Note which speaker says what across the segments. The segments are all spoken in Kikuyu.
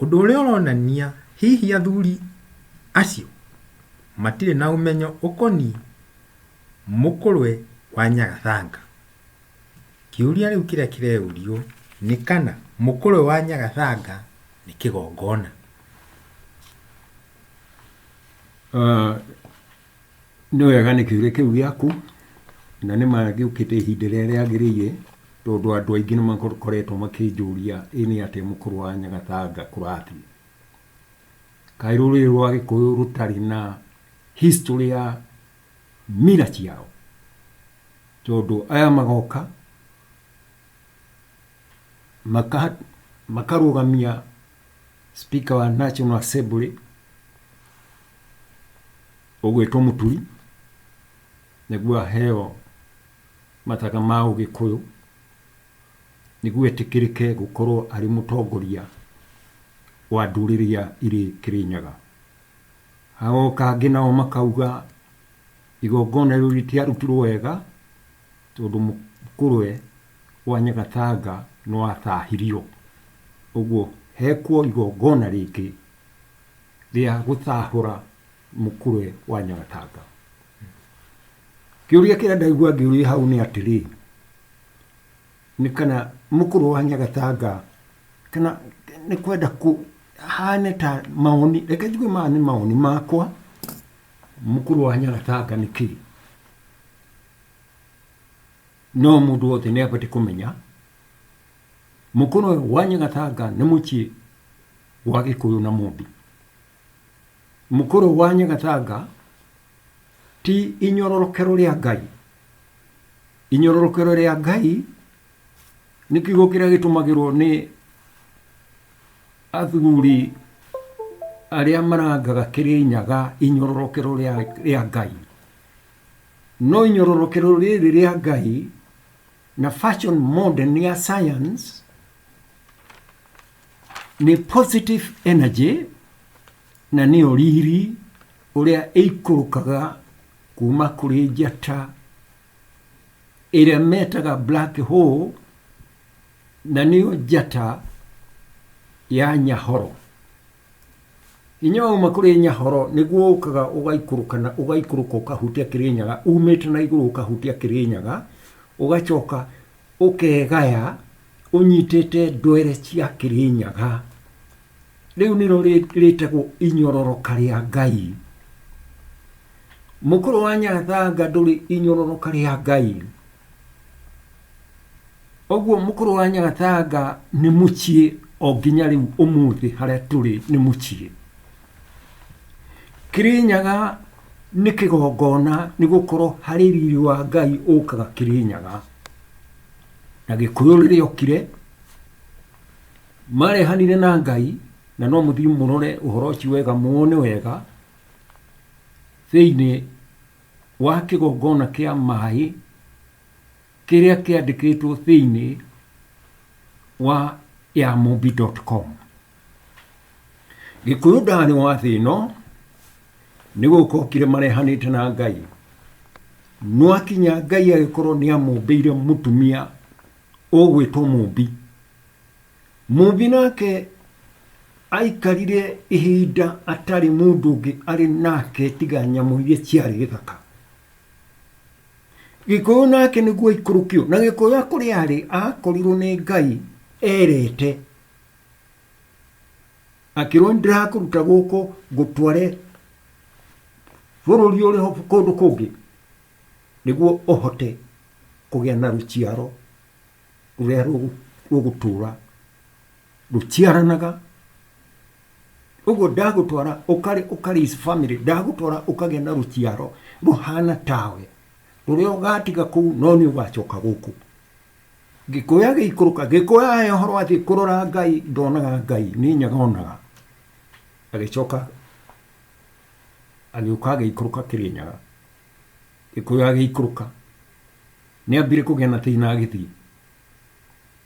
Speaker 1: Ũndũ ũrĩa ũronania hihi athuri acio matirĩ na ũmenyo ũkoniĩ mũkũrwe wa Nyagathanga. Kĩũria rĩu kĩrĩa kĩreyũrio nĩ kana mũkũrwe wa Nyagathanga nĩ kĩgongona.
Speaker 2: Nĩ wega nĩ kĩũria kĩu gĩaku, na nĩ ma gĩũkĩte ihinda rĩrĩa rĩagĩrĩire, tondũ andũ aingĩ nĩ makoretwo makĩnjũria ĩ nĩ atĩa mũkũrũ wa Nyagatanga kũrathiĩ. Kaĩ rũrĩrĩ rwa Gĩkũyũ rũtarĩ na history ya mila ciao? Tondũ aya magoka, makarũgamia Speaker wa National Assembly ũgwĩtwo Mũturi nĩguo aheo mathaga ma Ũgĩkũyũ nĩguo etĩkĩrĩke gũkorwo arĩ mũtongoria wa ndũrĩrĩ ya irĩ Kĩrĩnyaga. Hagoka angĩ nao makauga igongona rĩu rĩtiarutirwo wega tondũ Mũkũrwe wa Nyagatanga nĩwataahirio, ũguo heekwo igongona rĩngĩ rĩa gũtaahũra mũkũrwe wa Nyagatanga. Kĩũria kĩrĩa ndaigua ngĩũrio hau nĩ atĩrĩ, nĩ kana mũkũrwe wa Nyagatanga kana nĩ kwenda kũ haane ta mawoni, reke njuge maya nĩ mawoni maakwa, mũkũrwe wa Nyagatanga nĩ kĩĩ? No mũndũ wothe nĩ abatiĩ kũmenya mũkũrũ ũyũ wa Nyagatanga nĩ mũciĩ wa Gĩkũyũ na Mũmbi. Mũkũrũ ũyũ wa Nyagatanga ti inyororokero rĩa Ngai. Inyororokero rĩa Ngai nĩ kiugo kĩrĩa gĩtũmagĩrwo nĩ athuri arĩa marangaga Kĩrĩnyaga inyororokero rĩa Ngai. No inyororokero rĩrĩ rĩa Ngai na fashion modern ya science nĩ positive energy na nĩ oriri ũrĩa ĩikũrũkaga kuma kũrĩ njata ĩrĩa metaga black hole na nĩyo njata ya nyahoro Hinya wa uma kũrĩ Nyahoro nĩguo ũkaga ũgaikũrũka na ũgaikũrũka ũkahutia Kĩrĩnyaga, umĩte na igũrũ ũkahutia Kĩrĩnyaga, ũgacoka ũkegaya ũnyitĩte ndwere cia Kĩrĩnyaga. Rĩu nĩro rĩtagwo inyororoka rĩa Ngai. Mũkũrũ wa Nyathanga ndũrĩ inyororoka rĩa Ngai. Ũguo mũkũrũ wa Nyagathanga nĩ mũciĩ o nginya rĩu ũmũthĩ harĩa tũrĩ nĩ mũciĩ. Kĩrĩnyaga nĩ kĩgongona nĩ gũkorwo harĩ riri wa Ngai ũkaga Kĩrĩnyaga. Na Gĩkũyũ rĩrĩa okire, marehanire na Ngai, na no mũthiĩ mũrore ũhoro ũcio wega muone wega, thĩinĩ wa kĩgongona kĩa maĩ kĩrĩa kĩandĩkĩtwo thĩinĩ wa yamobi.com. Gĩkũyũ ndarĩ wa thĩ ĩno nĩ gũkokire marehanĩte na Ngai. No akinya Ngai agĩkorwo nĩ amũmbĩire mũtumia ũgwĩtwo mũmbi. Mũmbi nake aikarire ihinda atarĩ mũndũ ũngĩ arĩ nake tiga nyamũ iria ciarĩ gĩthaka. Gĩkũyũ nake nĩguo aikũrũkio. Na Gĩkũyũ akũrĩ arĩ akorirwo nĩ Ngai erete akĩrwo ndĩrakũruta gũkũ ngũtware bũrũri ũrĩ ho kũndũ kũngĩ nĩguo ũhote kũgĩa na rũciaro rũrĩa rũgũ- rũgũtũra rũtiaranaga ũguo ndagũtwara ũkarĩ ũkarĩs family ndagũtwara ũkagĩa na rũciaro rũhana tawe rũrĩa ũgatiga kũu no nĩ ũgacoka gũkũ gĩkũya gĩikũrũka gĩkũya he ũhoro atĩ kũrora ngai ndonaga ngai nĩ nyaga onaga agĩcoka agĩũka agĩikũrũka kĩrĩ nyaga gĩkũya agĩikũrũka nĩ ambire kũgĩa na thĩna agĩthiĩ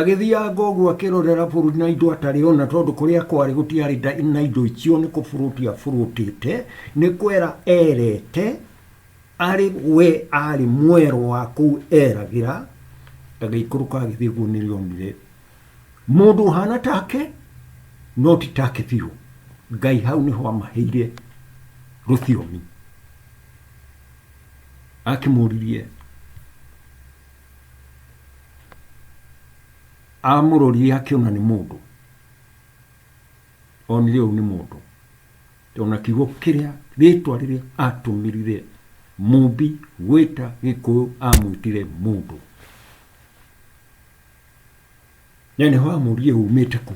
Speaker 2: Agĩthianga ũguo akĩrorera bũrũri na indo atarĩ ona, tondũ kũrĩa kwarĩ gũtiarĩ na indo icio, nĩ kũbũrũti abũrũtĩte, nĩ kwera erete, arĩ we arĩ mwero wa kũu eragĩra, agĩikũrũka agĩthiĩ guo nĩrĩ onire mũndũ ũhana take, no ti take biũ. Ngai hau nĩho amaheire rũthiomi. Akĩmũririe amũrorire akĩona nĩ mũndũ onire ũyũ nĩ mũndũ ona kiugo kĩrĩa rĩtwa rĩrĩa atũmĩrire mũmbi gwĩta gĩkũyũ amwĩtire mũndũ na nĩho amũrie umĩte kũ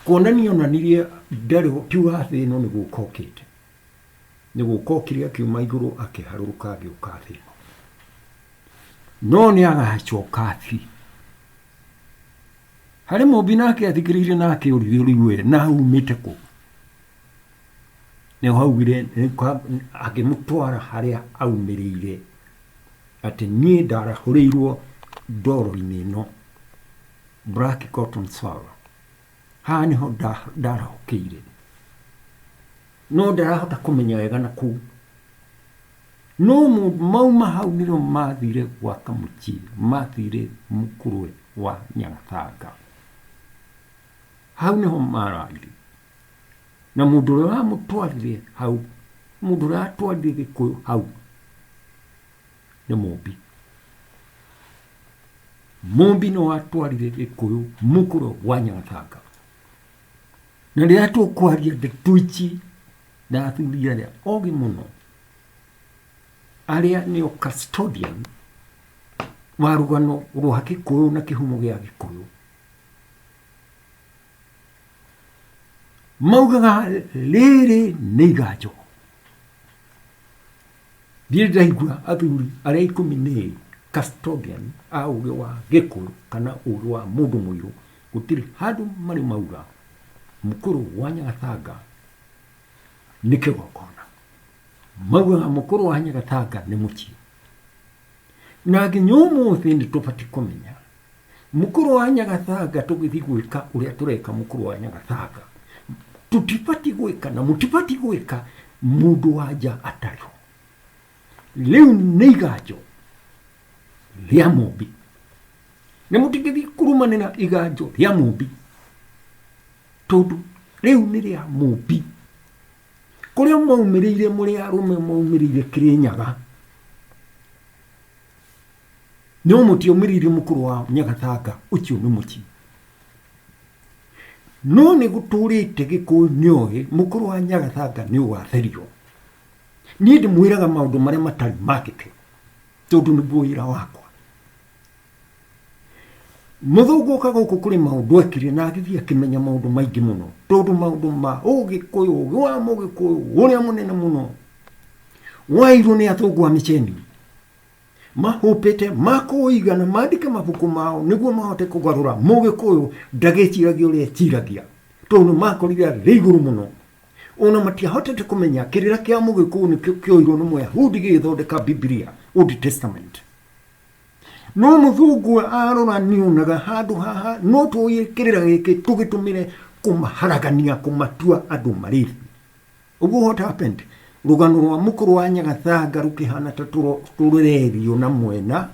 Speaker 2: kuonania onanirie ndarĩ tiuga thĩ ĩno nĩ gũka okĩte Nĩgũkokire akiuma igũrũ akĩharũrũka agĩũka thĩ ĩno. No nĩagacoka thĩ. Harĩ mũmbi nake athikĩrĩirie na akĩũria ũrĩu we na aumĩte kũ? Nĩho augire akĩmũtwara harĩa aumĩrĩire atĩ niĩ ndarahũrĩirwo ndoro-inĩ ĩno Black Cotton Sour. Haha nĩho ndarahũkĩire, no ndarahota kũmenya wega na kũu. No mauma hau nĩo mathire gwa Kamũchi, mathire Mũkũrwe wa Nyagathanga. Hau nĩho mararire. Na mũndũ ũrĩa wamũtwarire hau, mũndũ ũrĩa watwarire Gĩkũyũ hau, nĩ mũmbi mũmbi nĩ watwarire gĩkũyũ mũkũrũ wa nyagatanga na rĩrĩa tũkwaria ndeto ici na athuri arĩa ogĩ mũno arĩa nĩo custodian wa rũgano rwa gĩkũyũ na kĩhumo gĩa gĩkũyũ maugaga rĩrĩ nĩ iganjo ndiĩ ndaigua athuri arĩa ikũmi nĩ ĩrĩ custodian a ũgĩ wa gĩkũyũ kana ũgĩ wa mũndũ mũirũ gũtirĩ handũ marĩ mauga mũkũrũ wa nyagatanga nĩ kĩgongona maugaga mũkũrũ wa nyagatanga nĩ mũciĩ na nginya ũmũthĩ nĩ tũbatiĩ kũmenya mũkũrũ wa nyagathanga tũgĩthiĩ gwĩka ũrĩa tũreka mũkũrũ wa nyagathanga tũtibatiĩ gwĩka na mũtibatiĩ gwĩka mũndũ wa nja atarĩ ho rĩu nĩ iganjo rĩa mũmbi na mũtingĩthiĩ kurumanĩra iganjo rĩa mũmbi tondũ rĩu nĩ rĩa mũmbi kũrĩa mwaumĩrĩire mũrĩ arũme mwaumĩrĩire kĩrĩnyaga no mũtiaumĩrĩire mũkũrũ wa nyagatanga ũcio nĩ mũciĩ no nĩ gũtũrĩte gĩkũyũ nĩ oĩ mũkũrũ wa nyagatanga nĩ ũgatherio niĩ ndĩmwĩraga maũndũ marĩa matarĩ mandĩke tondũ nĩguo wĩra wakwa Mũthũngũ ũka gũkũ kũrĩ maũndũ ekire na agĩthiĩ akĩmenya maũndũ maingĩ mũno, tondũ maũndũ ma ũgĩkũyũ, ũgĩ wa mũgĩkũyũ ũrĩa mũnene mũno wairwo nĩ athũngũ a mĩceni mahũpĩte makũiga na mandĩke mabuku mao nĩguo mahote kũgarũra mũgĩkũyũ ndagĩciragia ũrĩa eciragia tondũ makorire arĩ igũrũ mũno ona matiahotete kũmenya kĩrĩra kĩa mũgĩkũyũ nĩkĩo kĩoirwo nĩ mũyahudi gĩgĩthondeka bibilia old testament no mũthungu arora nĩonaga handũ haha no tũĩ kĩrĩra gĩkĩ tũgĩtũmĩre kũmaharagania kũmatua andũ marĩri ũguo what happened rũgano rwa mũkũrũ wa nyagathanga rũkĩhana ta tũro- tũrererio na mwena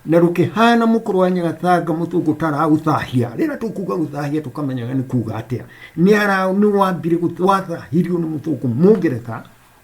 Speaker 2: na rũkĩhana mũkũrũ wa nyagathanga mũthũngũ taraũthahia rĩrĩa tũkuga gũthahia tũkamenyaga nĩ kuga atĩa nĩ ara- nĩ wambire gũth- wathahirio nĩ mũthũngũ mũngeretha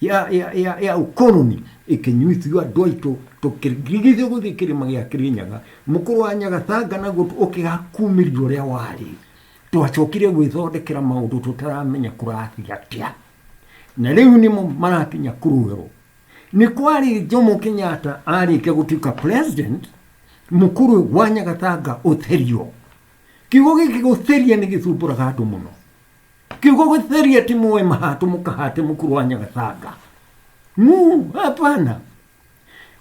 Speaker 2: ya, ya, ya, ya ukoloni ikinyuithio andu aitu tukirigithio guthii kirima gia kirinyaga mukuru wa nyagatanga naguo ukigakumiria uria wari twacokire gwithondekera maundu tutaramenya kurathii atia na riu nimo marakinya kurugerwo ni kwari jomo kenyatta arikia gutuika president mukuru wa nyagatanga utherio kiugo giki gutheria ni githumburaga andu muno kiugo gũtheria ti mũĩ mahatũ mũkahatĩ mũkuru wa nyagathanga mu hapana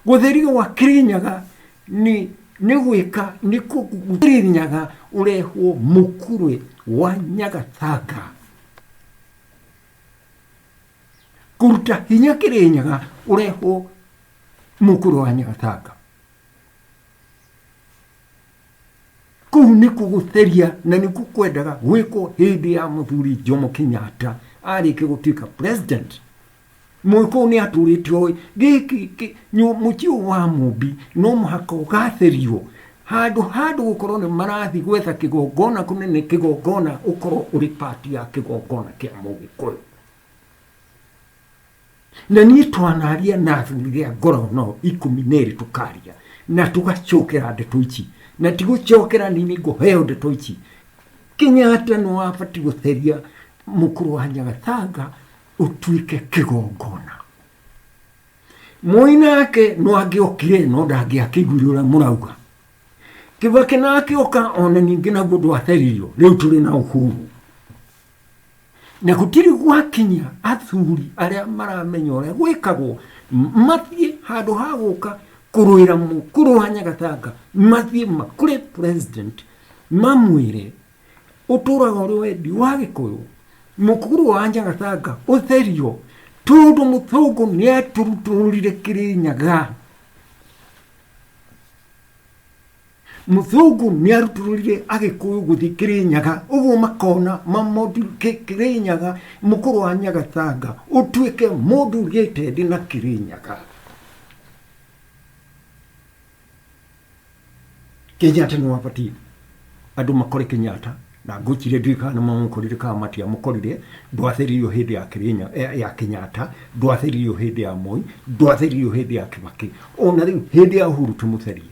Speaker 2: gũtheria wa kirinyaga ni nĩ gwĩka nĩ kũkirinyaga ũrehwo mũkurwe wa nyagathanga kũruta hinya kĩrĩnyaga ũrehwo mũkuru wa nyagathanga kuu nĩ kũgũtheria na nĩ kwendaga gwĩkwo hĩndĩ ya mũthuri Jomo Kenyatta arĩke gũtuĩka president mũkũũ nĩ atũrĩte oĩ gĩkĩ kĩ- nyũ- mũciĩ ũyũ wa mũmbi no mũhaka ũgatherio handũ handũ gũkorwo nĩ marathiĩ gwetha kĩgongona kũnene kĩgongona ũkorwo ũrĩ pati ya kĩgongona kĩa mũgĩkũyũ Na niĩ twanaria na athuri rĩa ngoro no ikũmi na ĩrĩ tũkaria na tũgacokera ndeto ici na tigũcokera nĩ ngũheo ndeto ici Kenyatta nĩ wabati gũtheria mũkũrũ wa Nyagathanga ũtuĩke kĩgongona Moi nake no angĩokire no ndangĩakĩiguire ũrĩa mũrauga Kĩbakĩ nake oka ona ningĩ naguo ndwatheririo rĩu tũrĩ na ũhuru na gũtirĩ gwakinya athuri arĩa maramenya ũrĩa gwĩkagwo mathiĩ handũ ha gũka kũrũĩra mũkũrũ wa nyagatanga mathiĩ makũrĩ president mamwĩre ũtũraga ũrĩ wendi wa gĩkũyũ mũkũrũ wa nyagatanga ũtherio tondũ mũthũngũ nĩ atũrutũrire kĩrĩ nyaga Mũthũngũ nĩarutũrũrire Agĩkũyũ gũthiĩ Kĩrĩnyaga, ũguo makona Mamodi Kĩ- Kĩrĩnyaga, mũkũrũ wa Nyagatanga, ũtuĩke mũndũ ũgĩte thĩ na Kĩrĩnyaga. Kenyatta nĩ wabatiĩ andũ makore Kenyatta na ngwĩciria ndiũĩ kana mamũkorire kana matiamũkorire ndwathĩrĩirio hĩndĩ ya Kĩrĩnya- ya- ya Kenyatta ndwathĩrĩirio hĩndĩ ya Moi ndwathĩrĩirio hĩndĩ ya Kĩbakĩ ona rĩu hĩndĩ ya Uhuru tũmũtherie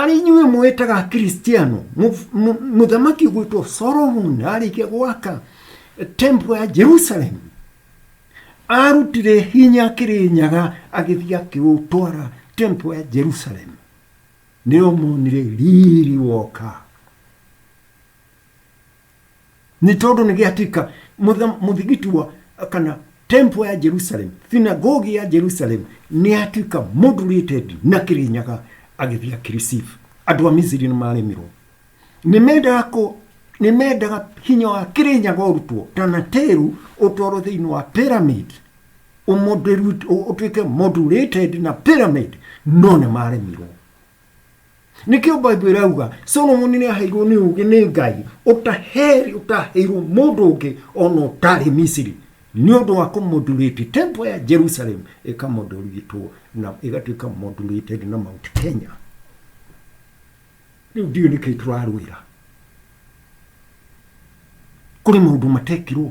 Speaker 2: arĩ inyuĩ mwĩtaga kristiano mũthamaki gwĩtwo solomon arĩkia gwaka tempo ya jerusalem arutire hinya akĩrĩ nyaga agĩthiĩ akĩũtwara tempo ya jerusalem nĩo monire riri woka nĩ tondũ nĩ gĩatika mũthigiti wa kana tempo ya jerusalem thinagogi ya jerusalem nĩ yatuĩka moderated na kĩrĩnyaga agĩthiĩ akĩreceive andũ a misiri nĩ maremirwo nĩ mendaga kũ nĩ mendaga hinya wa kĩrĩnyaga ũrutwo tanateru ũtwarwo thĩinĩ wa pyramid ũmoderu- ũ- ũtuĩke moderated na pyramid no nĩ maremirwo nĩkĩo bible ĩrauga solomoni nĩ aheirwo nĩ ũgĩ nĩ ngai ũtaheri ũtaheirwo mũndũ ũngĩ ona ũtarĩ misiri nĩ ũndũ wa kũmodurĩti tempo ya jerusalem ĩkamodoritwo na ĩgatuĩka modurated na mount kenya rĩu ndiũ nĩkĩ tũrarũĩra kũrĩ maũndũ matekirwo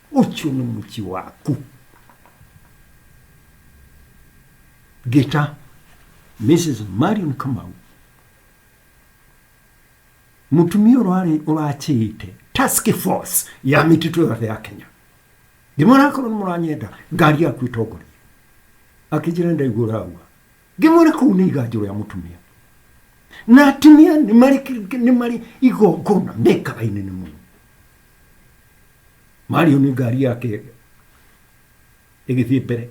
Speaker 2: ũcio nĩ mũciĩ waku ngĩta mrs marion kamau mũtumia ũrarĩ ũrachĩĩte task force ya mĩtitũ yothe ya kenya ndĩmwona akorwo nĩ mũranyenda ngari yaku ĩtongoria akĩnjĩra ndaigua ũraua Ngĩmwĩra kũu nĩ iganjũ rĩa mũtumia. Na atumia nĩ marĩ kĩ- nĩ marĩ igongona mekaga inene mũno. Mario nĩ ngari yake ĩgĩthiĩ mbere.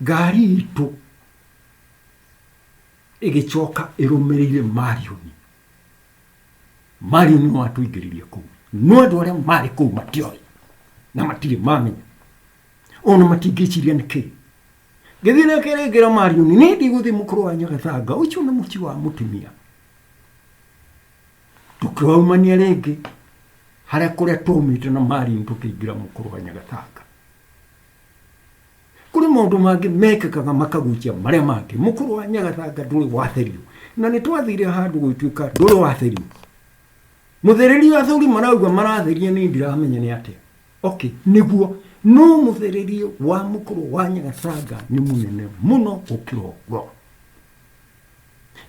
Speaker 2: Ngari itũ ĩgĩcoka ĩrũmĩrĩire Marioni. Marioni nĩ watũingĩririe kũu. No andũ arĩa marĩ kũu matioĩ na matirĩ mamenya. Ona matingĩciria nĩ kĩĩ. Gĩthiĩ na kĩrĩngĩro Marioni, nĩ ndigũthi mũkũrũ wa Nyagatanga, ũcio nĩ mũciĩ wa mũtumia. Tũkĩwaumania rĩngĩ harĩa kũrĩa twaumĩte na Marioni tũkĩingĩra mũkũrũ wa Nyagatanga. Kũrĩ maũndũ mangĩ mekĩkaga makagucia marĩa mangĩ. Mũkũrũ wa Nyagatanga ndũrĩ watherio, na nĩ twathire handũ gũgĩtuĩka ndũrĩ watherio. Mũthereri athuri marauga maratheria nĩ ndiramenya nĩ atĩa. Okay, nĩguo no mũthĩrĩrie wa mũkũrũ wa nyagatanga nĩ mũnene mũno gũkĩra ũguo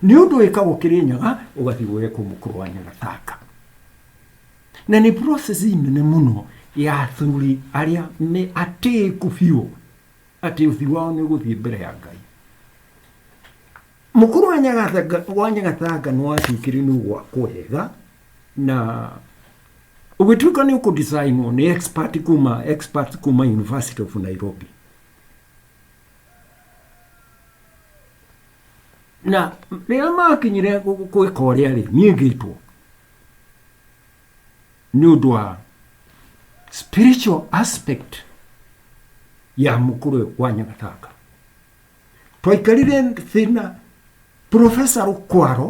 Speaker 2: nĩ ũndũ wĩkagwo kĩrĩ nyaga ũgathiĩ gwekwo mũkũrũ wa nyagatanga na nĩ process nene mũno ya athuri arĩa me atĩĩku biũ atĩ ũthiũ wao nĩ ũgũthiĩ mbere ya ngai mũkũrũ wa nyagatanga wa nyagatanga nĩ watuĩkire nĩ ũgwakwo wega na Ũgĩtuĩka nĩ ũkũdesainwo nĩ expert kuma expert kuma University of Nairobi na rĩrĩa makinyire gwĩka ũrĩa rĩ niĩ ngĩtwo nĩ ũndũ wa spiritual aspect ya mũkũrũ ũyũ wa nyagatanga twaikarire thĩna profesa rũkwaro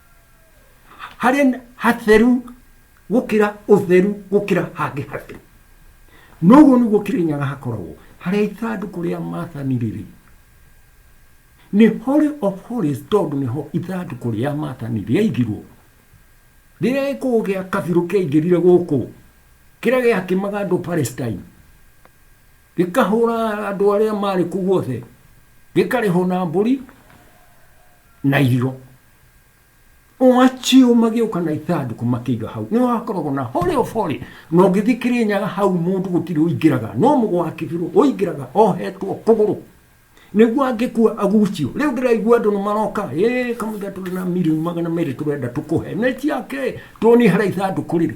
Speaker 2: harĩa nĩ hatheru gũkĩra ũtheru gũkĩra hangĩ hatheru noguo nĩguo kĩrĩnyaga hakoragwo harĩa ithandũkũ rĩa mathani rĩrĩ nĩ holy of holies tondũ nĩho ithandũkũ rĩa mathani rĩaigirwo rĩrĩa gĩkũũ gĩa kabirũ kĩaingĩrire gũkũ kĩrĩa gĩakimaga andũ palestine gĩkahũra andũ arĩa marĩ kũu guothe gĩkarĩhwo na mbũri na irio oacio magĩũka na ithandũkũ makĩiga hau nĩ wakoragwo na hore obore na ũngĩthiĩ kĩrĩnyaga hau mũndũ gũtirĩ ũingĩraga no mũgwakĩbirwo ũingĩraga ohetwo kũgũrũ nĩguo angĩkua agucio rĩu ndĩraigua andũ nĩ maroka ĩ kamũira tũrĩ na mirioni magana merĩ tũrenda tũkũhe nĩ ciake tuonie harĩa ithandũkũ rĩrĩ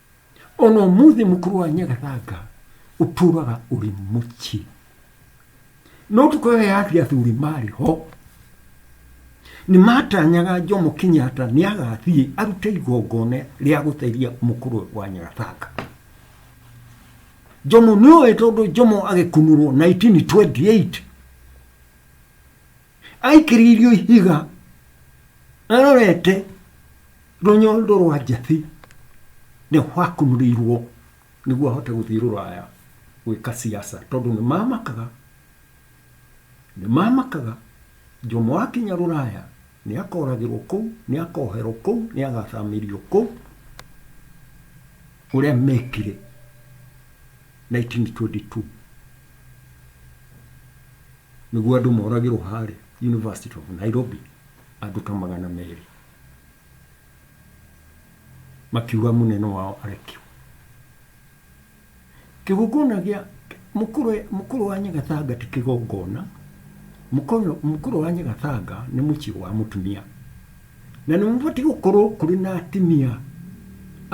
Speaker 2: ona ũmũthĩ mũkũrũ wa nyagathanga ũtũraga ũrĩ mũciĩ no tukũ ĩyo yathi athuri marĩ ho nĩ matanyaga Jomo Kenyatta nĩ agathiĩ arute igongona rĩa gũtheria mũkũrũ wa nyagathanga Jomo nĩ ũĩ tondũ Jomo agĩkunũrwo 1928 Aikĩrĩirio ihiga arorete rũnyondo rwa njatĩ nĩ wakunũrĩirwo nĩguo ahote gũthiĩ rũraya gwĩka siasa tondũ nĩ mamakaga nĩ mamakaga Jomo akinya rũraya nĩ akoragĩrwo kũu nĩ akoherwo kũu nĩ agathamĩrio kũu ũrĩa mekire 1922 nĩguo andũ moragĩrwo harĩa University of Nairobi andũ ta magana merĩ makiuga mũnene wao arekio kĩgongona gĩa mũkũrũ mũkũrũ wa nyagatanga ti kĩgongona mũkũrũ mũkũrũ wa nyagatanga nĩ mũciĩ wa mũtumia Na nĩ mabatiĩ gũkorwo kũrĩ na atimia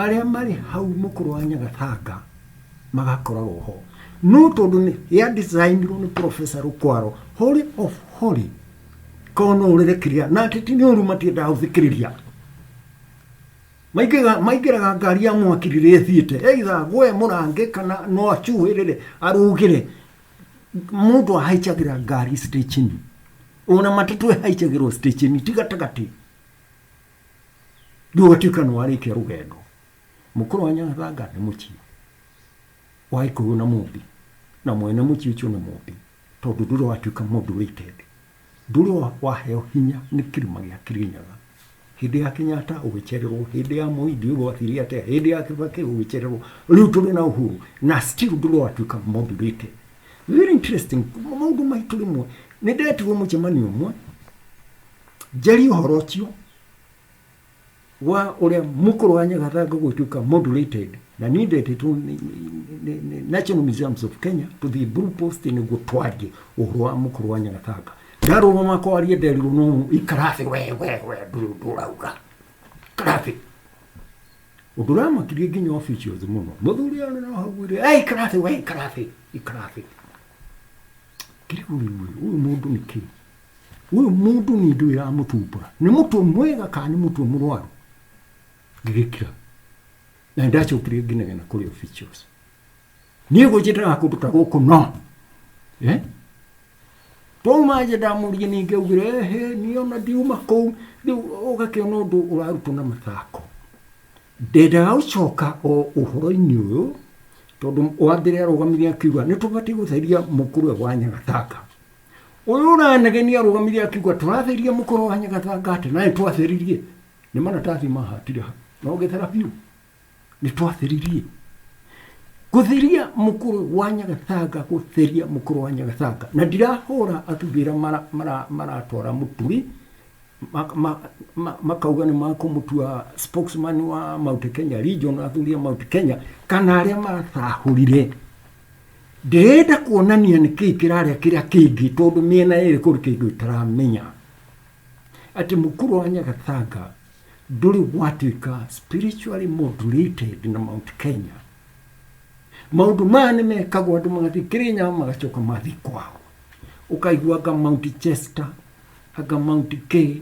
Speaker 2: arĩa marĩ hau mũkũrũ wa Nyagathanga magakoragwo ho. No tondũ nĩ ya designirwo nĩ Professor Rũkwaro, Holy of Holy, korwo no ũrĩre kĩrĩa, na atĩ ti nĩ ũru matiendaga gũthikĩrĩria. Maingĩraga maingĩraga ngari ya mwaki rĩrĩa ĩthiĩte, either agũe mũrangĩ kana no acuhĩrĩre arũgĩre. mũndũ ahaichagĩra ngari stechini ona matatũ ĩhaichagĩrwo stechini ti gatagatĩ rĩu ũgatuĩka nĩ warĩkia rũgendo mũkũrũ wa nyathanga nĩ mũciĩ wa ikũyũ na mũmbi na mwene mũciĩ ũcio nĩ mũmbi tondũ ndũrĩ watuĩka mũndũ ũrĩte thĩ Ndũrĩo waheo hinya nĩ kĩrĩma gĩa Kĩrĩnyaga. Hĩndĩ ya Kenyatta ũgĩcererwo, hĩndĩ ya Moi ndiũĩ gwathiire atĩa, hĩndĩ ya Kĩbakĩ ũgĩcererwo, rĩu tũrĩ na Uhuru na still ndũrĩ watuĩka moderator. Very interesting, maũndũ maitũ rĩmwe. Nĩ ndetirwo mũcemanio ũmwe njarie ũhoro ũcio, wa uria mukuru wa nyagathangu gutuika modulated na ni ndete tu ni, ni, ni, ni National Museums of Kenya to the Blue Post niguo twarie uhoro wa mukuru wa nyagathangu ndaruruma kwaria nderirwo no ikarathi we we we nduri undu urauga karathi undu uramakirie nginya officials muno muthuri ari no hau ri ai karathi we karathi ikarathi kiriguri uyu mundu niki Ũyũ mũndũ nĩ ndũĩ ĩramũtumbũra, nĩ mũtwe mwega kana nĩ mũtwe mũrwaru? Ngĩgĩkira na nĩ ndacokire ngĩnegena kũrĩ officials. Niĩ gũnjĩtaga kũndũ ta gũkũ no eh? twauma nje ndamũria ningĩ augire ehe niĩ ona ndiuma kũu rĩu ũgakĩona ũndũ ũrarutwo na mathako ndendaga gũcoka o ũhoro-inĩ ũyũ tondũ wa mbere arũgamire akiuga nĩ tũbatiĩ gũtheria mũkũrwe wa nyagatanga Ũyũ ũranegenia arũgamire akiuga tũratheria mũkoro wa nyagathanga atĩ naĩ twatheririe nĩ maratathi mahatire ha na ũgĩthera biũ nĩ twatheririe gũtheria mũkũrũ wa nyagathanga gũtheria mũkũrũ wa nyagathanga na ndirahũra athurĩra mara- mara- maratwara mũturi mak- ma- ma- makauga nĩ makũmũtua spokesman wa Mount Kenya region athuri a Mount Kenya kana arĩa maratahũrire ndĩrenda kuonania nä kä kĩrarĩa kĩrĩa kĩngĩ tondũ mĩena ĩrĩ kũrĩ kĩndũ ĩtaramenya atĩ mũkuru wa nyagathanga ndũrĩ gwatuĩka spiritually modulated na mount kenya maũndũ maya nĩ mekagwo andũ magathiĩ kĩrĩnyaga magacoka mathiĩ kwao ũkaigua anga mount chester anga mount k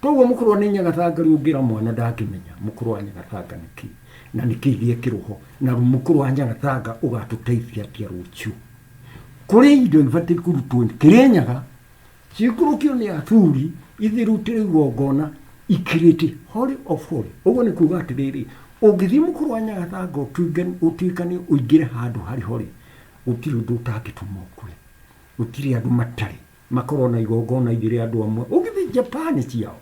Speaker 2: Koguo mũkũrwa nĩ nyagatanga rĩu ngĩra mwana ndangĩmenya mũkũrwa nyagatanga nĩ kĩ na nĩ kĩ gĩekĩrwo ho na mũkũrwa nyagatanga ũgatũteithia atĩa rũciũ. Kũrĩ indo ibatiĩ kũrutwo Kĩrĩnyaga ciikũrũkio nĩ Athuri ithirutĩre igongona ikirĩte holy of holy. Ũguo nĩ kuuga atĩrĩrĩ, ũngĩthiĩ mũkũrwa nyagatanga ũtuĩkane ũingĩre handũ harĩ holy, gũtirĩ ũndũ ũtangĩtũma ũkue. Gũtirĩ andũ matarĩ. Makorwo na igongona igĩrĩ andũ amwe. Ũgĩthiĩ Japan ciao,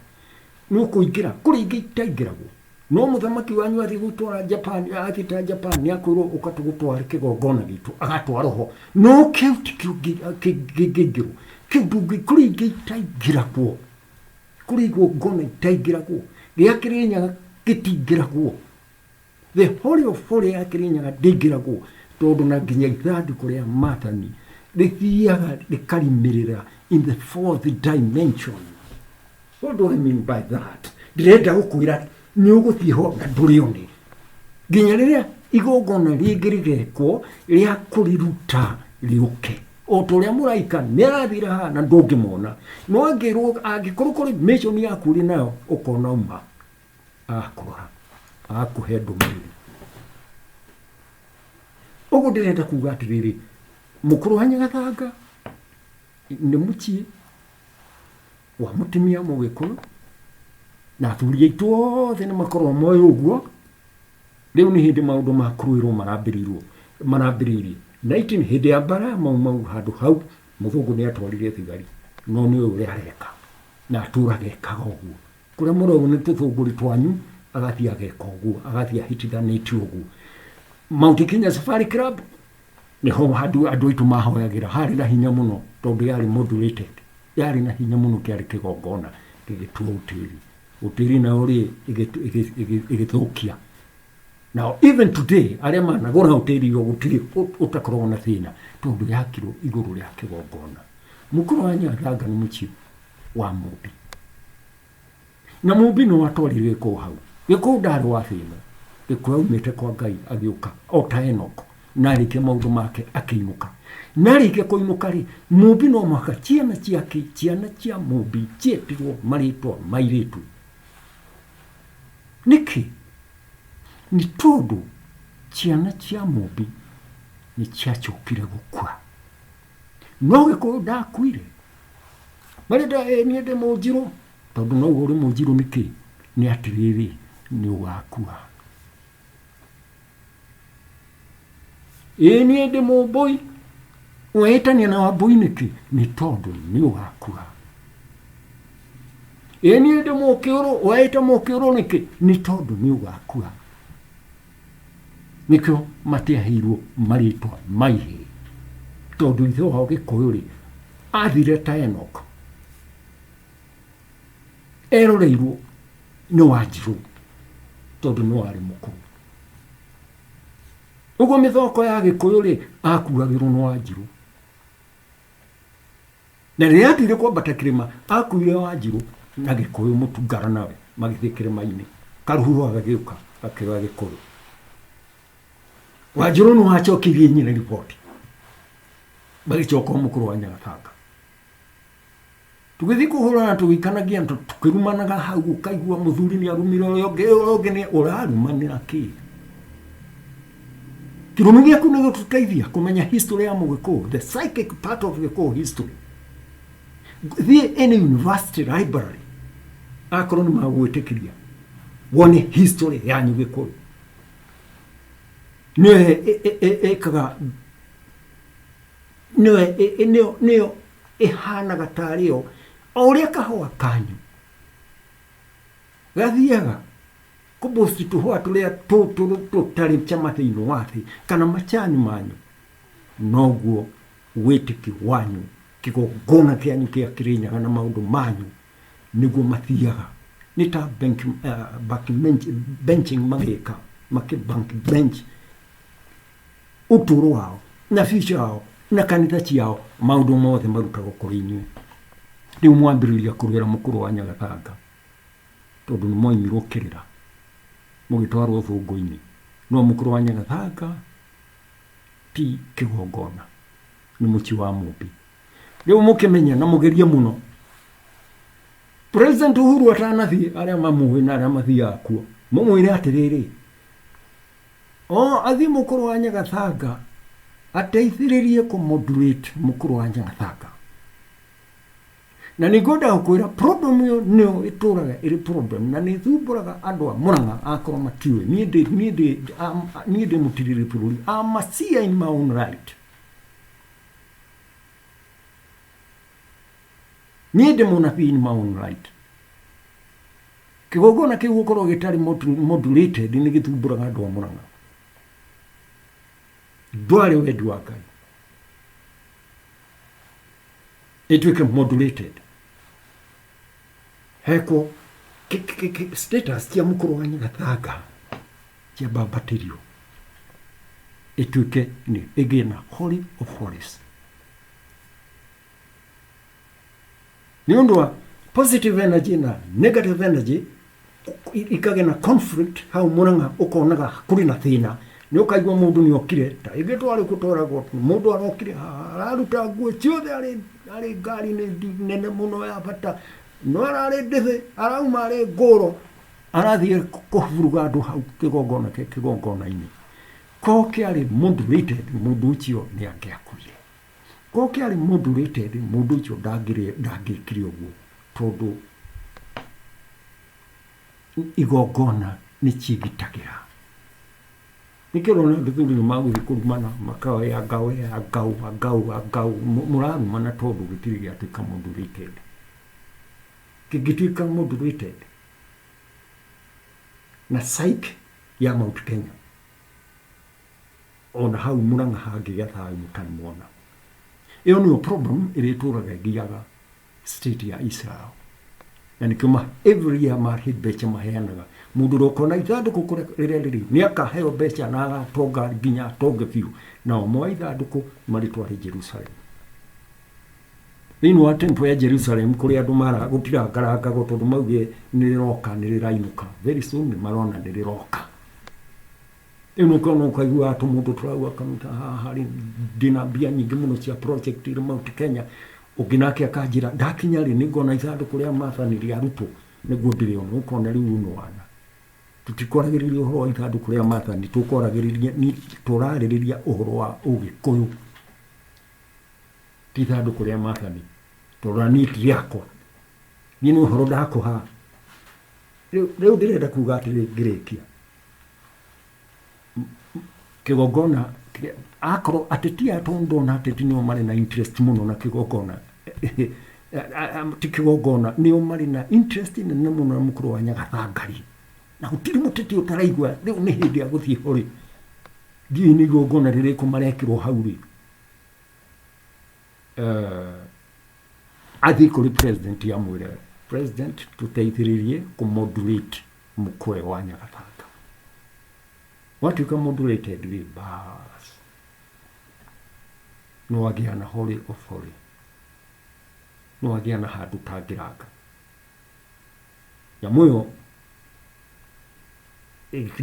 Speaker 2: nĩ ũkũingĩra, kũrĩ ingĩ itaingĩragwo. No mũthamaki wanyu athiĩ gũtwara Japan, athiĩ ta Japan, nĩ akwĩrwo ũka tũgũtware kĩgongona gitũ, agatwarwo ho. No kĩu ti kĩo kĩngĩingĩrwo. Kĩu ndũngĩ, kũrĩ ingĩ itaingĩragwo. Kũrĩ igongona itaingĩragwo. Gĩa Kĩrĩnyaga gĩtingĩragwo. the holy of holy ya kirinyaga ndĩngĩragwo tondũ na nginya ithandũkũ rĩa matani rĩthiaga rĩkarimirĩra in the fourth dimension what do i mean by that ndĩrenda gũkwĩra nĩ ũgũthiĩ ho na ndũrĩone nginya rĩrĩa igongona rĩngĩ rĩgekwo rĩa kũriruta rĩũke o ta ũrĩa mũraika nĩ arathire haha na ndũngĩmona no angĩrwo angĩkorwo kũrĩ mission yaku ũrĩ nayo ũkona uma akũra akũhe ndũmĩrĩri ũguo ndĩrenda kuga atĩrĩrĩ mũkũrũ wa nyagathanga nĩ mũciĩ wa mũtumia mũgĩkũyũ na athuri aitũ othe nĩ makorwo moĩ ũguo rĩu nĩ hĩndĩ maũndũ ma kũrũĩrwo marambĩrĩirwo marambĩrĩirie na itin hĩndĩ ya mbara mau mau handũ hau mũthũngũ nĩ atwarire thigari no nĩ ũyũ ũrĩa areka na atũraga ekaga ũguo Kũrĩa mũrauga nĩ tũthũngũri twanyu agathiĩ ageka ũguo agathiĩ ahĩtithanĩtie ũguo Mount Kenya Safari Club nĩho handũ andũ aitũ mahoyagĩra harĩ na hinya mũno tondũ yarĩ modulated yarĩ na hinya mũno kĩarĩ kĩgongona gĩgĩtua ũtĩri ũtĩri nayo rĩ ĩgĩtu- ĩgĩ- ĩgĩ- ĩgĩthũkia Now, even today, arĩa managũra hoteli iyo gũtirĩ ũ- ũtakoragwo na thĩna tondũ yakirwo igũrũ rĩa kĩgongona. Mũkũrũ wa Nyaganga nĩ mũciĩ wa mũmbi na mũmbi no atwarire gĩkũũ hau gĩkũũ ndarĩ wa thĩ ĩno gĩkũũ aumĩte kwa ngai agĩũka o ta enoko na arĩkia maũndũ make akĩinũka na arĩkia kũinũka rĩ mũmbi no mwaka ciana ciake ciana cia mũmbi ciĩtirwo marĩtwa mairĩtu nĩkĩ nĩ tondũ ciana cia mũmbi nĩ ciacokire gũkua no gĩkũũ ndakuire Marĩ nda ĩ niĩ ndĩ mũnjirũ tondũ no ũrĩ mũnjirũ nĩkĩ nĩ atĩrĩrĩ nĩ ũgakua ĩ niĩ ndĩ mũmbũi wehĩtania na wambũi nĩkĩ nĩ tondũ nĩ ũgakua ĩ niĩ ndĩ mũkĩũrũ wehĩta mũkĩũrũ nĩkĩ nĩ tondũ nĩ ũgakua nĩkĩo matiaheirwo marĩtwa ma ihĩĩ tondũ ithe wao gĩkũyũ-rĩ athire ta enok eroreirwo nĩ wanjirũ tondũ nĩ warĩ mũkũrũ ũguo mĩthoko ya gĩkũyũ-rĩ akuagĩrwo nĩ wanjirũ Na rĩrĩa aatuire kwambata kĩrĩma, aakuire Wanjirũ na Gĩkũyũ Mũtungara nawe magĩthiĩ kĩrĩma-inĩ. Karuhura gagĩũka gakĩoya Gĩkũyũ. Wanjirũ nĩ wacokirie nyina riboti, magĩcoka o mũkũrũ wa Nyagatanga. Tũgĩthiĩ kũhũrana tũgĩikanagia ntũ tũkĩrumanaga hau ũkaigua mũthuri nĩ arumire ũrĩa ũngĩ ũrĩa ũngĩ nĩ ũrarumanĩra kĩĩ. Kĩrumi gĩaku nĩ gĩgũteithia kũmenya history ya mũgĩkũũ, the psychic part of gĩkũũ history. Thiĩ any university library, akorwo nĩ magwĩtĩkĩria, wone history yanyu gĩkũũ. Nĩyo ĩ- ĩ- ĩ- ĩ- ĩkaga nĩyo ĩ- ĩ- nĩyo- nĩyo ĩhanaga tarĩyo o ũrĩa kahũa kanyu Gathiaga kũbũsti tũhũa tũrĩa tũtũrũ tũtarĩ cama thĩinĩ wa thĩ kana macani manyu, noguo wĩtĩkio wanyu kĩgongona kĩanyu kĩa kĩrĩnyaga na maũndũ manyu nĩguo mathiaga nĩ ta bank, uh, bank bench, benching magĩka makĩ bank bench ũtũũro wao na bica yao na kanitha ciao maũndũ mothe marutagwo kũrĩ inyuĩ rĩu mwambĩrĩria kũrwĩra mũkũrũ wa nyagatanga tondũ nĩ moimirwo kĩrĩra mũgĩtwarwo thũngũ-inĩ no mũkũrũ wa nyagathanga ti kĩgongona nĩ mũciĩ wa mũmbi rĩu mũkĩmenye na mũgerie mũno president uhuru atanathiĩ arĩa mamũĩ na arĩa mathiaga kuo mũmwĩre atĩrĩrĩ o athiĩ mũkũrũ wa nyagathanga ateithĩrĩrie kũmodulate mũkũrũ wa nyagathanga Na nĩ ngwenda gũkwĩra problem ĩyo nĩyo ĩtũraga ĩrĩ problem na nĩ thumbũraga andũ a Murang'a akorwo matiũĩ niĩ ndĩ niĩ ndĩ am- niĩ ndĩ mũtirĩrĩ bũrũri am a seer in my own right niĩ ndĩ mũnabii in my own right kĩgongona kĩu gũkorwo gĩtarĩ modu- modulated nĩ gĩthumbũraga andũ a Murang'a ndwarĩ wendi wa Ngai ĩtuĩke modulated hekwo ki- ki- ki- ki- status cia mũkũrũ wa nyagathanga cia bambatĩrio ĩtuĩke nĩ ĩgĩe na holy of holies nĩ ũndũ wa positive energy na negative energy i kage na conflict hau muranga ukonaga kuri na thina ni ukaigua mundu ni okire ta ingi twari kutwara got mundu arokire haha araruta nguo ciothe ari ari ngari ni ndi- nene muno ya bata no arari ndithi arauma ari ngoro arathie kuburuga andu hau kigongona kigongona-ini ko kiari moderated mundu ucio ni angiakuire Ũngĩ arĩ mũndũ ũrĩte thĩ, mũndũ ũcio ndangĩkire ũguo tondũ igongona nĩ ciĩgitagĩra. Nĩkĩo ũrona gĩthuri nĩ magũthiĩ kũrumana makoya ngaũ ya ngaũ ya ngaũ ya ngaũ, mũrarumana tondũ gĩtirĩ gĩatuĩka mũndũ ũrĩte thĩ. Kĩngĩtuĩka mũndũ ũrĩte thĩ na psyche ya Mount Kenya. O na hau Murang'a hangĩgĩa thayũ mũtarĩ mwona. Ĩyo nĩyo problem ĩrĩa ĩtũraga ĩgiaga state ya Israel. Na nĩkĩo ma every year marĩ mbeca maheanaga. Mũndũ ũrĩa ũkona ithandũkũ kũrĩa rĩrĩa rĩrĩ nĩ akaheo mbeca na agatonga nginya atonge biũ. Nao moya ithandũkũ marĩtware Jerusalem. Thĩinĩ wa temple ya Jerusalem kũrĩ andũ mara gũtirangarangagwo tondũ mauge nĩ rĩroka nĩ rĩrainũka. Very soon nĩ marona nĩ rĩroka. Rĩu nĩ ũkona ũkaiguaga tũmũndũ tũraua karuta haha rĩ ndĩna mbia nyingĩ mũno cia project irĩ Mount Kenya ũngĩ nake akanjĩra ndakinya rĩ nĩ ngona ithandũkũ rĩa matha nĩ rĩa rutwo nĩguo ndĩrĩona ũkona rĩu uno wana tũtikoragĩrĩria ũhoro wa ithandũkũ rĩa matha nĩ tũkoragĩrĩria nĩ tũrarĩrĩria ũhoro wa ũgĩkũyũ ti ithandũkũ rĩa matha nĩ tondũ niĩ ti rĩakwa niĩ nĩ ũhoro ndakũha rĩu rĩu ndĩrenda kuga atĩrĩ ngĩrĩkia kĩgongona akorwo ateti aya tondũ ndona ateti nĩo marĩ na interest mũno na kĩgongona ti kĩgongona nĩo marĩ na interest nene mũno na mũkũrũ wa nyagathangari na gũtirĩ mũteti ũtaraigua rĩu nĩ hĩndĩ ya gũthiĩ ho rĩ ndiũĩ nĩ igongona rĩrĩkũ marekĩrwo hau rĩ athiĩ kũrĩ president amwĩre president tũteithĩrĩrie kũ moderate Mũkũe wa Nyagathanga. Watuĩka mũndũ rated rĩ, baas. Nĩ wagĩa na holy of holy. Nĩ wagĩa na handũ ũtangĩranga. Nyamũ ĩyo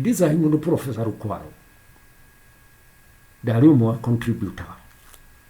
Speaker 2: design mũndũ Professor Rũkwaro ndarĩ ũmwe wa contributor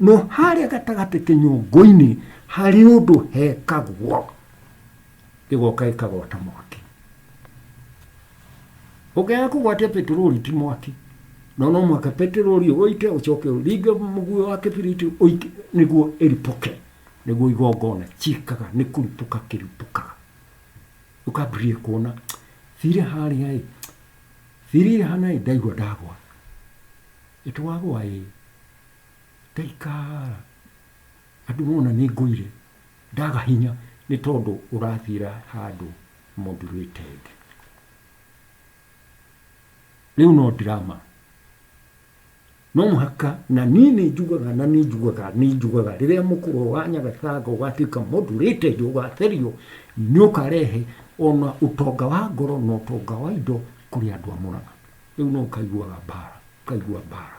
Speaker 2: No harĩa gatagatĩ kĩnyũngũ-inĩ harĩ ũndũ hekagwo, gĩgoka gĩkagwata mwaki. Ũngĩaga kũgwatia peteroli ti mwaki, no no mũhaka peteroli ũite ũcoke ũringe mũguĩ wa kĩbiriti ũite nĩguo ĩripũke, nĩguo igongona ciĩkaga nĩ kũripũka kĩripũkaga. Ũkambĩrĩria kuona thire harĩa ĩ, thire ĩhana ĩ ndaigua ndagwa, ĩtwagwa ĩ Ngaikara andũ mona nĩ ngũire, ndaga hinya nĩ tondũ ũrathiĩra handũ mũndũ wĩ tenge. Rĩu no drama. No mũhaka na niĩ nĩ njugaga na nĩ njugaga nĩ njugaga rĩrĩa mũkũrwa wa Nyagatanga ũgatuĩka mũndũ wĩ tenge ũgatherio, nĩ ũkarehe ona ũtonga wa ngoro na ũtonga wa indo kũrĩ andũ a Mũrang'a. Rĩu no ũkaiguaga mbara, ũkaigua mbara.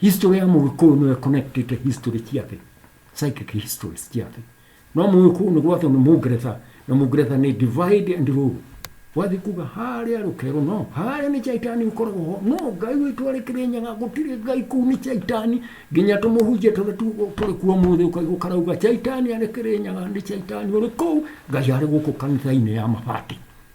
Speaker 2: History ya Mũgĩkũyũ nĩyo ĩconnectĩte history ciake, psychic histories ciake. No Mũgĩkũyũ nĩ gwathwo nĩ Mũngeretha, na Mũngeretha nĩ divide and rule. Wathiĩ kuga harĩa rũkero no, harĩa nĩ caitani ũkoragwo ho, no Ngai witũ arĩ Kĩrĩnyaga, gũtirĩ Ngai kũu nĩ caitani, nginya tũmũhunjia tũrĩa tu- tũrĩ kuo ũmũthĩ ũkaigua karauga caitani arĩ Kĩrĩnyaga, nĩ caitani ũrĩ kũu, Ngai arĩ gũkũ kanitha-inĩ ya mabati.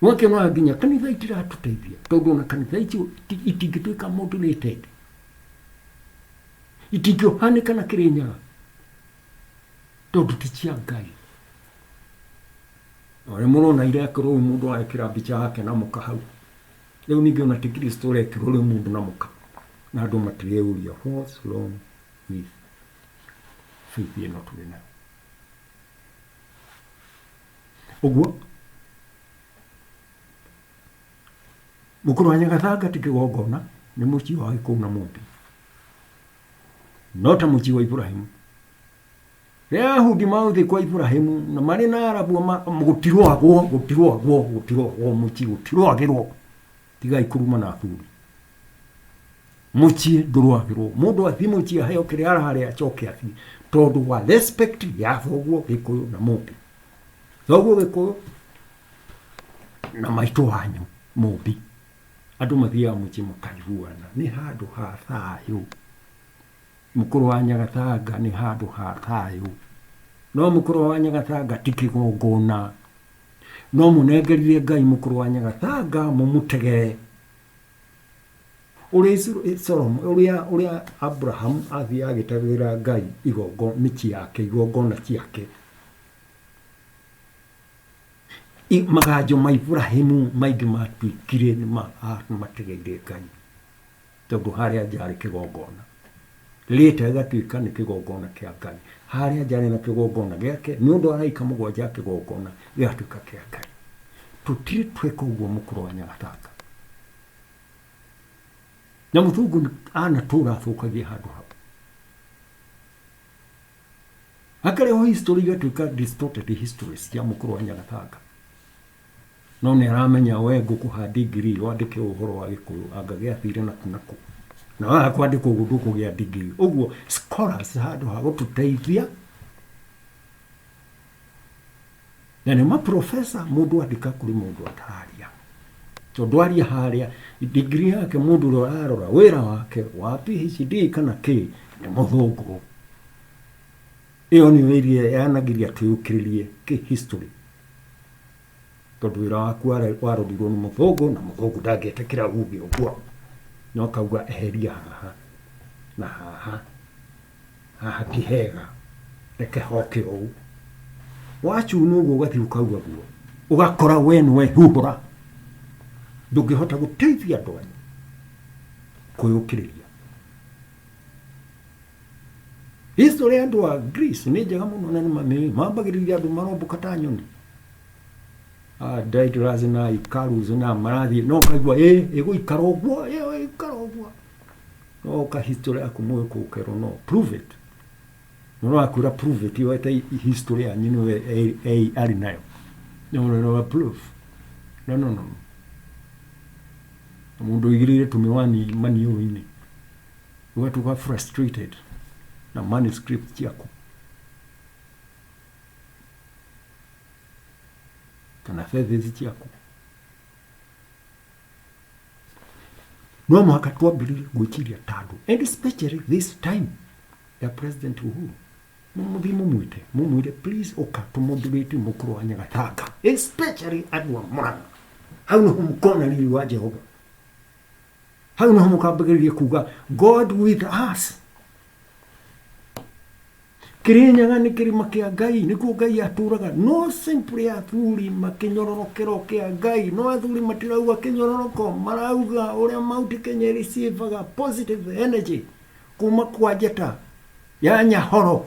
Speaker 2: Mweke no nginya kanitha itiratũteithia tondũ ona kanitha icio itingĩtuĩka mũndũ nĩ tete itingĩohanĩka na kĩrĩ nyaga tondũ ti cia ngai na rä må na irekå rå må ndå arekera mbica yake na må ka hau rä u ningä ona tä kristo rekero rä må ndå na må ka na andå matirä ria what's wrong with faith ä no tå rä nayo ũguo mũkũrũ wa nyagathanga ti kĩgongona nĩ mũciĩ wa gĩkũũ na mũmbi no ta mũciĩ wa iburahimu rĩrĩa ahudi magũthiĩ kwa iburahimu na marĩ na arabu ma- gũtirwagwo gũtirwagwo gũtirwagwo mũciĩ gũtirwagĩrwo tigai kuruma na athuri muciĩ ndũrwagĩrwo mũndũ athiĩ muciĩ aheo kĩrĩa ararĩa acoke athiĩ tondũ wa respect ya thoguo gĩkũyũ na mũmbi thoguo gĩkũyũ na maitũ wanyu mũmbi andũ mathiaga muciĩ makaiguana nĩ handũ ha thayũ mũkũrũ wa nyagatanga nĩ handũ ha thayũ no mũkũrũ wa nyagatanga ti kĩgongona No mũnengerire Ngai mũkũrũ wa Nyagatanga mũmũtegere ũrĩa Isu- eh, Solomo ũrĩa ũrĩa Abraham athiaga agĩtegagĩra Ngai igongo mĩciĩ yake igongona ciake I- maganjo ma Ibrahimu maingĩ matuĩkire nĩ ma- ah, nĩ mategeire Ngai Tondũ harĩa nja harĩ kĩgongona rĩĩta rĩgatuĩka nĩ kĩgongona kĩa Ngai, harĩa nja harĩ na kĩgongona gĩake, nĩ ũndũ araika mũgwanja a kĩgongona gĩgatuĩka kĩa Ngai. Tũtirĩ twĩka ũguo mũkũrũ wa nyagatanga. Na mũthungu nĩ- anatũra athũkagia handũ hau. Akarehwo history igatuĩka distorted histories cia mũkũrũ wa nyagatanga. No nĩ aramenya we ngũkũha degree wandĩke ũhoro wa gĩkũyũ anga gĩathire na kũ na kũ na waga kwandĩka ũguo ndũkũgĩa degree ũguo scholars handũ ha gũtũteithia na nĩ maprofesa mũndũ andĩka kũrĩ mũndũ atararia tondũ aria harĩa degree yake mũndũ ũrĩa ũrarora wĩra wake wa PhD kana kĩ nĩ mũthũngũ Ĩyo nĩyo ĩrĩa yanagĩria twĩyũkĩrĩrie kĩ-historĩ, tondũ wĩra waku ware- warorirwo nĩ mũthũngũ, na mũthũngũ ndangĩetĩkĩra uge ũguo, na ũkauga eheria haha na haha, haha ti hega, reke hoke ũũ. Wacunwo ũguo ũgathiĩ ũkauga guo, ũgakora we nĩwehuhũra, ndũngĩhota gũteithia andũ anyu kwĩyũkĩrĩria. History ya andũ a Greece nĩ njega mũno na nĩ mamĩũĩ. Mambagĩrĩria andũ maromboka ta nyoni. Ah, Daedalus na Icarus na marathiĩ no kaigua ĩ ĩgũikara ũguo ĩ ĩgũikara ũguo. No ka history yaku mũĩ kũkerwo no prove it. Mũndũ akwĩra prove it yo ete history yanyu nĩwe e- e- arĩ nayo. No no no prove. No no no. Mũndũ ũigĩrĩire tũmĩwani maniũrũ-inĩ. Watu wa frustrated na manuscript ciaku. Kana thesis ciaku. No mũhaka twambĩrĩrie gwĩciria ta andũ. And especially this time ya President Uhuru. Mũmũthiĩ mũmwĩte, mũmwĩre please ũka tũmũndurĩte mũkũrũ wa Nyagatanga. Especially andũ a Murang'a. Hau nĩho mũkona riri wa Jehova. hau naho mũkambagĩrĩria kuga god with us kĩrĩnyaga nĩ kĩrĩma kĩa ngai nĩkuo ngai atũraga no simply athuri makĩnyororokero kĩa ngai no athuri matirauga kĩnyororoko marauga ũrĩa mauti kenya ĩrĩcĩvaga positive energy kuma kwa njata ya nyahoro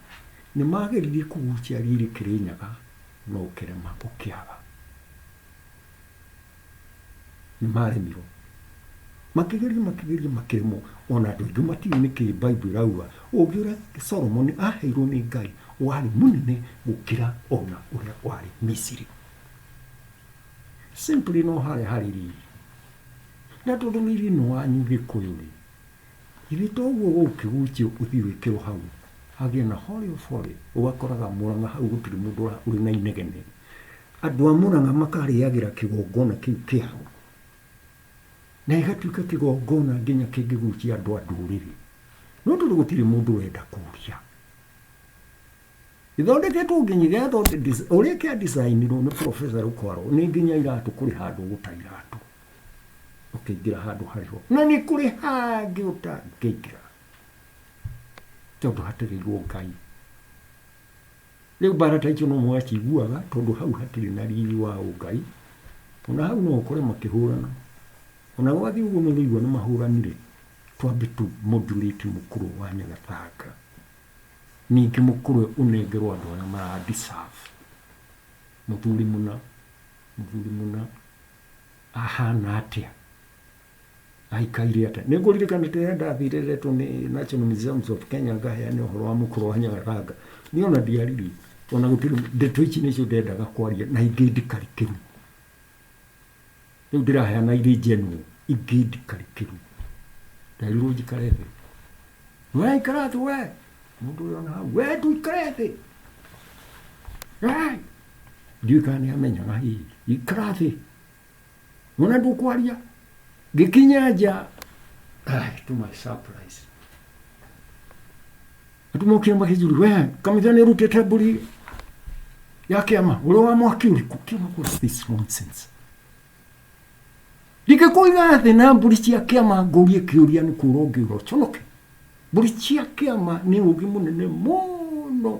Speaker 2: Nĩ maageririe kũgucia riri Kĩrĩnyaga no ũkĩrema ũkĩaga. Nĩ maaremirwo. Makĩgeria makĩgeria makĩremwo ona andũ aingĩ matiũĩ nĩkĩ Bible ĩrauga ũũgĩ ũrĩa Solomoni aaheirwo nĩ Ngai warĩ mũnene gũkĩra ona ũrĩa warĩ Misiri. Simply no harĩa harĩ riri. Na tondũ riri nĩ wanyu Gĩkũyũ-rĩ, Ithe to ũguo gũgũkĩgũnjia ũthiĩ wĩkĩrwo hau hagĩe na holy of holy ũgakoraga mũrang'a hau gũtirĩ mũndũ ũra- ũrĩ na inegene andũ a mũrang'a makarĩagĩra kĩgongona kĩu kĩao na gĩgatuĩka kĩgongona nginya kĩngĩgucia andũ a ndũrĩrĩ no tondũ gũtirĩ mũndũ ũrenda kũria ithondeketwo nginya gĩathonde- ũrĩa kĩa designirwo nĩ professor rũkwaro nĩ nginya iratũ kũrĩ handũ ũgũta iratũ ũkĩingĩra handũ harĩ ho na nĩ kũrĩ hangĩ ũtangĩingĩra tondũ hatĩrĩirwo ngai rĩu mbara ta icio no mwaciguaga tondũ hau hatirĩ na riri wa ũngai ona hau no ũkore makĩhũrana ona gwathiĩ ũguo nĩ ũrĩigua nĩ mahũranire twambe tu modulate mũkũrũ wa nyagathanga ningĩ mũkũrũ ũnengerwo andũ arĩa marandisabu mũthuri mũna Mũthuri mũna ahana atĩa? Aikaire atĩa? Nĩ ngũririkana rĩrĩa ndathire retwo nĩ National Museums of Kenya ngaheane ũhoro wa mũkũrũ wa Nyagathanga. Niĩ ona ndiaririe, ona gũtirĩ ndeto ici nĩcio ndendaga kwaria na ingĩ ndikarikĩru. Rĩu ndĩraheana irĩ njenwo, ingĩ ndikarikĩru. Nderirwo njikare thĩ. We ikara thĩ we! Mũndũ ũyũ ona hau, we ndũikare thĩ! ndiũĩ kana nĩ amenyaga hihi ikara thĩ wona ndũkwaria ngĩkinya nja ai, to my surprise atumokire makĩjuri we kanitha nĩ ũrutĩte mbũri ya kĩama ũrĩ wa mwaki ũrĩkũ kĩama what's this nonsense ndingĩkũiga thĩ na mbũri cia kĩama ngũrie kĩũria nĩ kũra ũngĩũra ũconoke mbũri cia kĩama nĩ ũgĩ mũnene mũno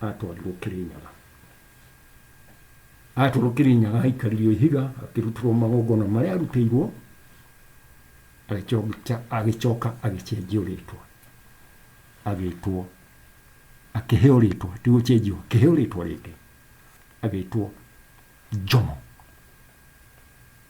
Speaker 2: atwarirwo Kĩrĩnyaga. Atwarwo Kĩrĩnyaga aikaririo ihiga akĩrutĩrwo magongona marĩa arutĩirwo agĩcoka agĩcenjio rĩtwa agĩtwo akĩheo rĩtwa ti gũcenjio akĩheo rĩtwa rĩngĩ agĩtwo Jomo.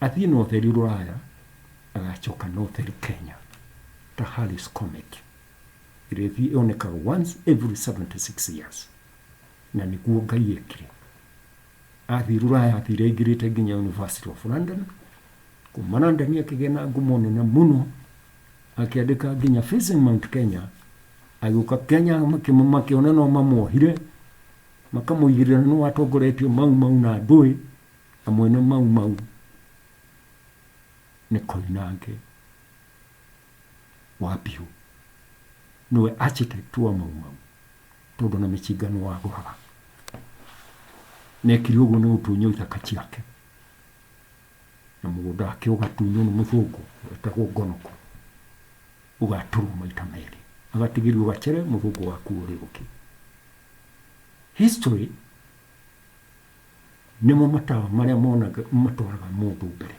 Speaker 2: athiĩ na ũtheri rũraya agacoka na ũtheri kenya ta harris comet ĩrĩa ĩthiĩ yonekaga once every 76 years na nĩguo ngai ekire athiĩ rũraya athire aingĩrĩte nginya university of london kuma london akĩgĩa na ngumo nene mũno akĩandĩka nginya facing mount kenya agĩũka kenya makĩmũ- makĩona no mamuohire makamũigĩrĩra nĩ watongoretie mau mau na ndũĩ Na mwene Mau Mau nĩ Koinange wa Bihũ. Nĩwe architect wa Mau Mau tondũ na mĩcinga nĩ wagũraga. Nekire ũguo nĩ gũtunywo ithaka ciake na mũgũnda wake ũgatunywo nĩ mũthũngũ wetagwo Ngonoko ũgatũrwo maita merĩ agatigĩrio gacere mũthũngũ waku ũrĩũke. History Nĩmo matawa marĩa monaga matwaraga mũndũ mbere.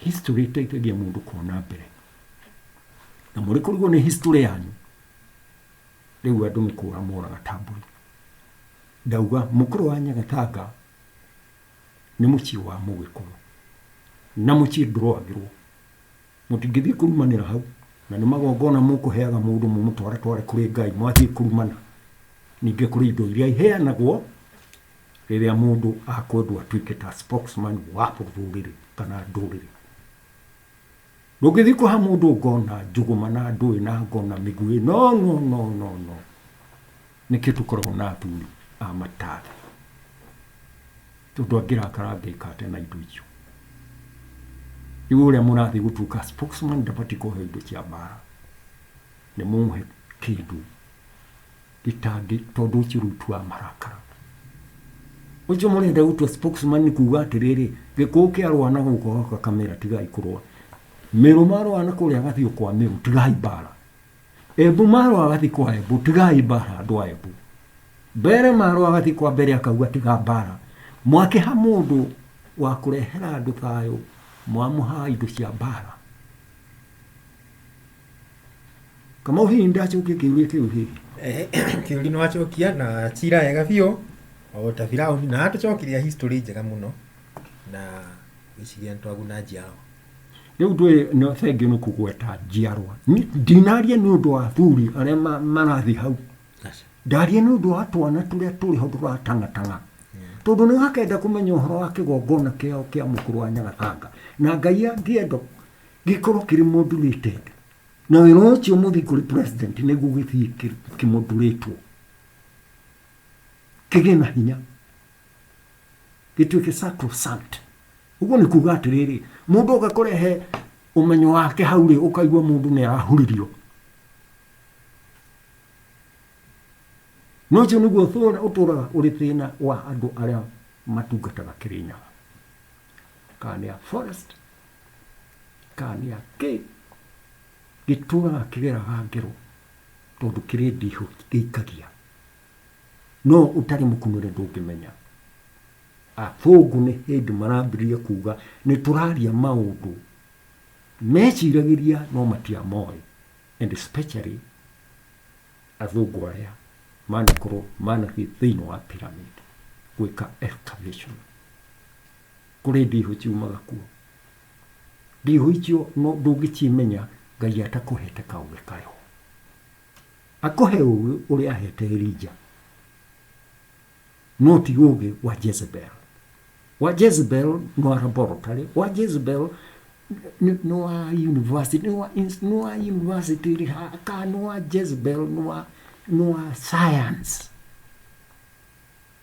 Speaker 2: History ĩteithagia mũndũ kuona mbere. Na mũrĩ kũrigwo nĩ history yanyu, rĩu andũ nĩ kũra moraga ta mbũri. Ndauga mũkũrũ wa Nyagathanga nĩ mũciĩ wa Mũgĩkũyũ, na mũciĩ ndũrũagĩrwo. Mũtingĩthiĩ kũrumanĩra hau, na nĩ magongona mũkũheaga mũndũ mũmũtwaretware kũrĩ Ngai mwathiĩ kũrumana. Ningĩ kũrĩ indo iria iheanagwo rĩrĩa mũndũ akwendwo atuĩke ta spokesman wa rũrĩrĩ kana ndũrĩrĩ. Ndũngĩthiĩ kũha mũndũ ngo na njũgũma na ndũĩ na ngo na mĩguĩ, no no no no no. Nĩkĩo tũkoragwo na athuri a mataarĩ, tondũ angĩrakara angĩka atĩa na indo icio? Rĩu ũrĩa mũrathiĩ gũtuĩka spokesman ndabatiĩ kũhe indo cia mbaara, nĩ mũmũhe kĩndũ gĩtangĩ, tondũ ũcio rĩu tu amarakara. Ũcio mũrenda gũtua spokesman nĩ kuuga atĩrĩrĩ, gĩkũũ kĩarũa na gũkũ gaka kamera tigai kũrũa, mĩrũ marũa na kũrĩa gathiũ kwa mĩrũ tigai mbaara. Embu maro agathi kwa Embu tigai bara andu a Embu mbere maro agathi kwa mbere akauga tiga bara mwakiha mundu wa kurehera andu thayo mwamuha indo cia bara kama uhi ndacokia kiuria kiu hihi Eh, kĩũri
Speaker 1: nĩ wacokia na cira wega biũ o ta birauni na atũcokirie history njega mũno na gĩciria nĩ twaguna njiaro rĩu ndwĩ
Speaker 2: no thengio nĩ kũgweta njiarwa Ni- ndinaria nĩ ũndũ wa athuri arĩa ma- marathiĩ hau Aca. ndaria nĩ ũndũ wa twana tũrĩa tũrĩ ho tũratangatanga tondũ nĩ gakenda kũmenya ũhoro wa kĩgongona kĩao kĩa mũkũrũ wa nyagathanga na ngai ya ngĩendo gĩkorwo kĩrĩ mũndurĩte nda na wĩra ũcio mũthiĩ kũrĩ president nĩguo gĩthiĩ kĩ- kĩmũndurĩtwo kĩgĩe na hinya gĩtuĩke sacrosanct. Ũguo nĩ kuga atĩrĩrĩ, mũndũ oka kũrehe ũmenyo wake hau rĩ, ũkaigua mũndũ nĩ arahuririo. No ũcio nĩguo ũtũraga ũrĩ thĩna wa andũ arĩa matungataga Kĩrĩnyaga, kana nĩ a forest, kana nĩ a kĩ, gĩtũraga kĩgeraga ngero tondũ kĩrĩ ndihũ gĩikagia. no ũtarĩ mũkunũre ndũngĩmenya. Athũngũ nĩ hĩndĩ marambĩrĩria kuga nĩ tũraria maũndũ meciragĩria no matiamoĩ and especially athũngũ arĩa manakorwo manathiĩ thĩinĩ wa pyramid gwĩka excavation kũrĩ ndihũ ciumaga kuo ndihũ icio no ndũngĩcimenya ngai atakũhete kaũgĩ kayo Akũhe ũũgĩ ũrĩa aheete Elija, no ti ũũgĩ wa Jezebel. Wa Jezebel nĩ wa laboratory, wa Jezebel nĩ nĩ wa university, nĩ wa ins- nĩ wa university ĩrĩ ha kana nĩ wa Jezebel nĩ wa nĩ wa science.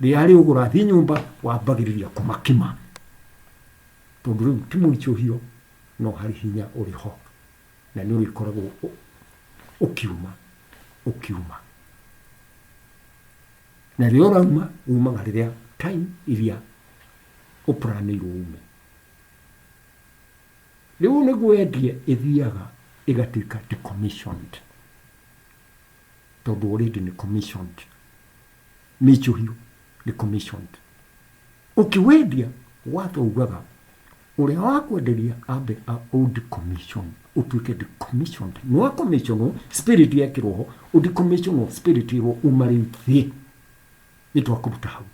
Speaker 2: rĩrĩa rĩu ũrathiĩ nyũmba wambagĩrĩria kũmakima tondũ rĩu ti mũritũhio no harĩ hinya ũrĩ ho na nĩ ũrĩkoragwo ũ- ũkiuma ũkiuma na rĩrĩa ũrauma umaga rĩrĩa time iria ũpranĩirwo ume rĩu nĩ gwendie ĩthiaga ĩgatuĩka decommissioned tondũ already nĩ commissioned mĩicũhio nĩ commissioned. Ũkĩwendia watho ugaga ũrĩa wakwenderia ambe a udecommission ũtuĩke decommissioned nĩ wa commissionwo spirit yekĩrwo ho udecommissionwo spirit ĩrwo uma rĩu thiĩ nĩ twakũruta hau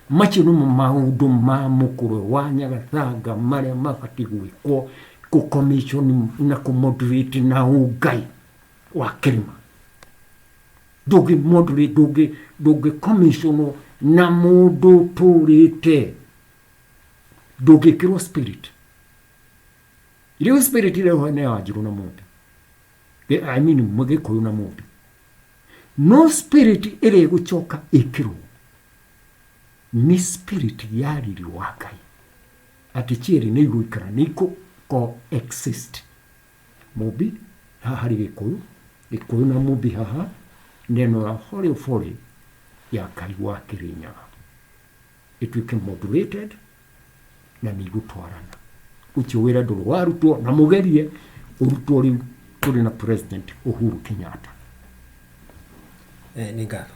Speaker 2: macio nĩmo maũndũ ma mũkũrwe wa nyagathanga marĩa mabatiĩ gwĩkwo kũcommission na kũmoderate na ũngai wa kĩrĩma ndũngĩ ndũngĩ commissionwo na mũndũ ũtũrĩte ndũngĩkĩrwo spirit rĩu spirit rĩho nĩ ya njirũ na mũndũ i mean mũgĩkũyũ na mũndũ no spirit ĩrĩa ĩgũcoka ĩkĩrwo nĩ spirit ya riri wa ngai atĩ cierĩ nĩ igũikara nĩ ikũ coexist Mũmbi, haha harĩ Gĩkũyũ, Gĩkũyũ na Mũmbi haha, neno la forĩũ forĩ ya Kaĩ wa Kĩrĩnyaga. Ĩtuĩke modulated na nĩ igũtwarana. Ũcio wĩra ndũrĩ warutwo na mũgerie ũrutwo rĩu tũrĩ na President Uhuru Kenyatta. Eh, nĩ ngatho.